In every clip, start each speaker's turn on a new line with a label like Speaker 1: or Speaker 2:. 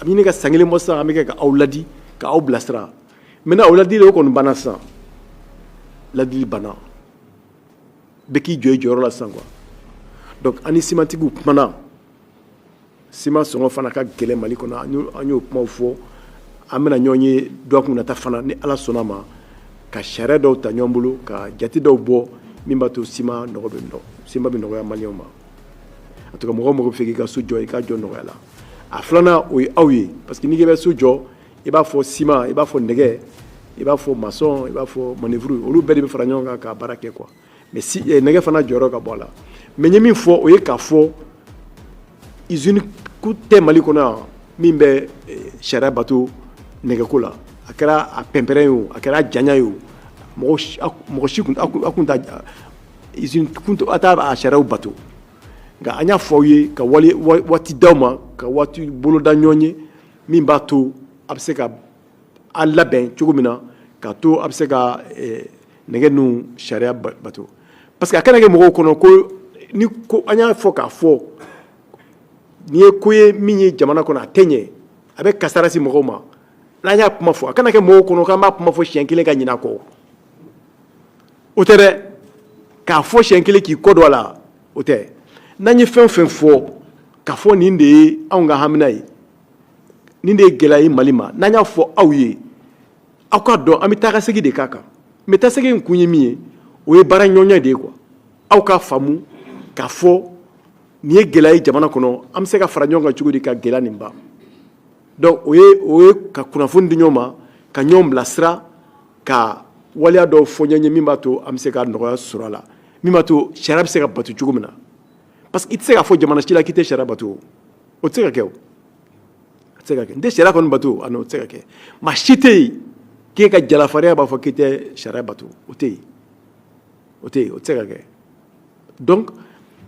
Speaker 1: a bɛ ɲini ka san kelen bɔ sisan an bɛ kɛ ka aw ladi ka aw bilasira mais aw ladili o kɔni banna sisan ladili banna bɛɛ k'i jɔ i jɔyɔrɔ la sisan quoi donc an ni simantigiw kumana siman sɔngɔ fana ka gɛlɛn mali kɔnɔ an y'o kumaw fɔ an bɛna ɲɔgɔn ye dɔgɔkun nata fana ni ala sɔnn'a ma ka sariya dɔw ta ɲɔgɔn bolo ka jate dɔw bɔ min b'a to siman nɔgɔ bɛ nɔ siman bɛ nɔgɔya maliyɛnw ma a to ko mɔgɔ mɔgɔ b'a fɛ k'i ka so jɔ i k'a jɔ nɔgɔya la a filanan o ye aw ye parce que n'i k'i bɛ so jɔ i b'a fɔ siman i b'a fɔ nɛgɛ i b'a fɔ masɔn i b'a fɔ manœuvre olu bɛɛ de bɛ fara ɲɔgɔn kan ka baara kɛ quoi mais si eh, nɛgɛ fana jɔyɔrɔ ka bon a la mais n ye min fɔ o ye k'a fɔ usine kun tɛ mali kɔnɔ yan min bɛ eh, sariya bato nɛgɛko la a kɛra a pɛnpɛrɛn ye o a kɛra a janya ye o mɔgɔ si kun t'a usine kun t'a a sariyaw bato nka an y'a fɔ aw ye ka waati di aw ma ka waati boloda ɲɔgɔn ye min b'a to a bɛ se ka a labɛn cogo min na k'a to a bɛ se ka eh, nɛgɛ ninnu sariya bato parce que a kana kɛ mɔgɔw kɔnɔ ko ni ko an y'a fɔ k'a fɔ n'i ye ko ye min ye jamana kɔnɔ a tɛ ɲɛ a bɛ kasara se mɔgɔw ma n'an y'a kuma fɔ a kana kɛ mɔgɔw kɔnɔ k'an b'a kuma fɔ siɲɛ kelen ka ɲinɛ a kɔ o tɛ dɛ k'a fɔ siɲɛ kelen k'i kɔ don a la o tɛ n'an ye fɛn fɛn fɔ k'a fɔ nin de ye anw ka hamina ye nin de ye gɛlɛya ye mali ma n'an y'a fɔ aw ye aw k'a dɔn an bɛ taa ka segin de k'a kan mais taa segin in kun ye min ye o ye baaraɲɔgɔnya de ye quoi aw k'a faamu k'a fɔ nin ye gɛlɛya ye jamana kɔnɔ an bɛ se ka fara ɲɔgɔn kan cogo di ka gɛlɛya nin ban donc o ye o ye ka kunnafoni di ɲɔgɔn ma ka ɲɔgɔn bilasira ka waleya dɔw fɔ ɲɔgɔn ye min b'a to an bɛ se ka nɔgɔya sɔrɔ a la min b'a to sariya bɛ se ka bato cogo min na parce que i tɛ se k'a fɔ jamana si la k'i tɛ sariya bato o tɛ se ka kɛ o a tɛ se ka kɛ n tɛ sariya kɔni bato a n'o tɛ se ka kɛ maa si tɛ yen k'e ka jala fariya b'a fɔ k'i tɛ sariya bato o tɛ yen o tɛ yen o tɛ se ka kɛ donc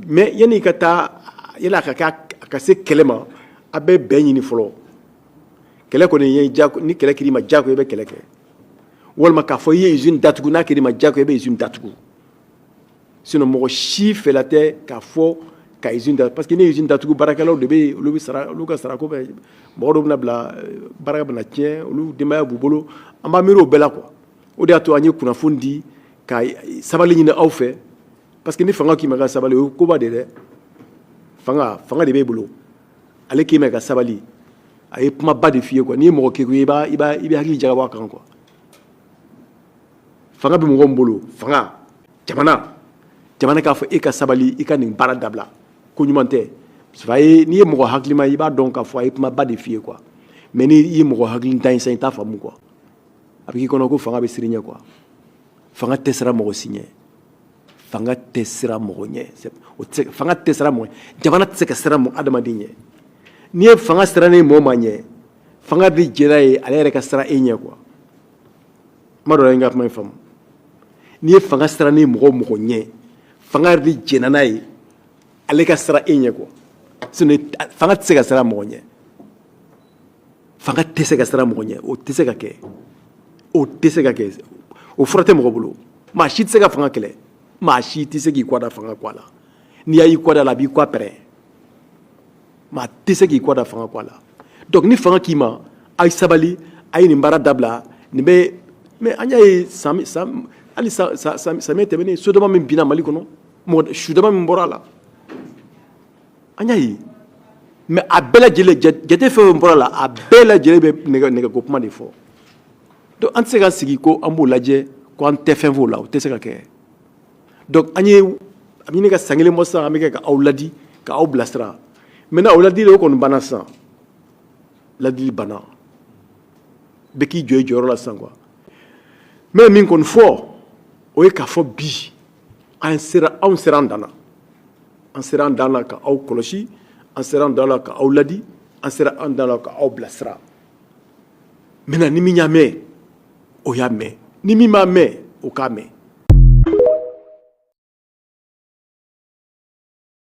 Speaker 1: mais yanni i ka taa yala a ka kɛ a ka se kɛlɛ ma a bɛ bɛn ɲini fɔlɔ kɛlɛ kɔni ye jako ni kɛlɛ kɛr'i ma jako i bɛ kɛlɛ kɛ walima k'a fɔ i ye izini datugu n'a kɛr'i ma jako i bɛ izini datugu sinon mɔgɔ si fɛla tɛ k'a fɔ ka izini da parce que ni izini datugu baarakɛlaw de bɛ olu sara olu ka sarako bɛ mɔgɔ dɔw bɛna bila eh, baara bɛna tiɲɛ olu denbaya b'u bolo an b'a miiri o bɛɛ la quoi o de y'a to an ye kunnafoni di ka sabali ɲini aw fɛ parce que ni fanga k'i ma ka sabali o ye koba de dɛ fanga fanga de b'e bolo ale k'i ma ka sabali a ye kumaba de f'i ye quoi n'i ye mɔgɔ kegun ye i b'a i b'a i bɛ hakili jagabɔ a kan quoi fanga bɛ mɔgɔ min bolo fanga jamana jamana k'a fɔ e ka sabali i ka nin baara dabila ko ɲuman tɛ a ye n'i ye mɔgɔ hakilima i b'a dɔn k'a fɔ a ye kumaba de f'i ye quoi mais n'i ye mɔgɔ hakilintan sa i t'a faamu quoi a bɛ k'i kɔnɔ ko fanga bɛ siran i ɲɛ quoi fanga tɛ siran mɔgɔ si ɲɛ fanga tɛ siran mɔgɔ ɲɛ o tɛ fanga tɛ siran mɔgɔ jamana tɛ se ka siran mɔgɔ adamaden ɲɛ n'i ye fanga sirannen mɔɔ ma ɲɛ fanga de jɛnna ye ale yɛrɛ ka siran e ɲɛ quoi kuma dɔ la n ka kuma in faamu n'i ye fanga sirannen mɔgɔ mɔgɔ ɲɛ fanga yɛrɛ de jɛnna n'a ye ale ka siran e ɲɛ quoi fanga tɛ se ka siran mɔgɔ ɲɛ fanga tɛ se ka siran mɔgɔ ɲɛ o tɛ se ka kɛ o tɛ se ka kɛ o fura tɛ mɔgɔ bolo maa si tɛ se ka fanga kɛlɛ maa si tɛ se k'i kɔ da fanga kɔ la n'i y'a y'i kɔ da a la a b'i kɔ pɛrɛn maa tɛ se k'i kɔ da fanga kɔ la donc ni fanga k'i ma a ye sabali a ye nin baara dabila nin bɛ mais an y'a ye sisan hali samiyɛ tɛmɛnen so dama min binna mali kɔnɔ mɔgɔ su dama min bɔra a la an y'a ye mais a bɛɛ lajɛlen jate fɛn fɛn bɔra a la a bɛɛ lajɛlen bɛ nɛgɛko kuma de fɔ donc an tɛ se ka sigi ko an b'o lajɛ ko an tɛ fɛn f'o la o tɛ se ka kɛ donc an ye a bɛ ka san kelen bɔ sisan an bɛ kɛ ka aw ladi ka aw bilasira maintenant o ladili o kɔni banna sisan ladili banna bɛɛ k'i jɔ i jɔyɔrɔ la sisan quoi mais min kɔni fɔ o ye k'a fɔ bi an sera anw sera an dan na an sera an dan na ka aw kɔlɔsi an sera an dan na ka aw ladi an sera an dan na ka aw bilasira maintenant ni min y'a mɛn o y'a mɛn ni min m'a mɛn o k'a mɛn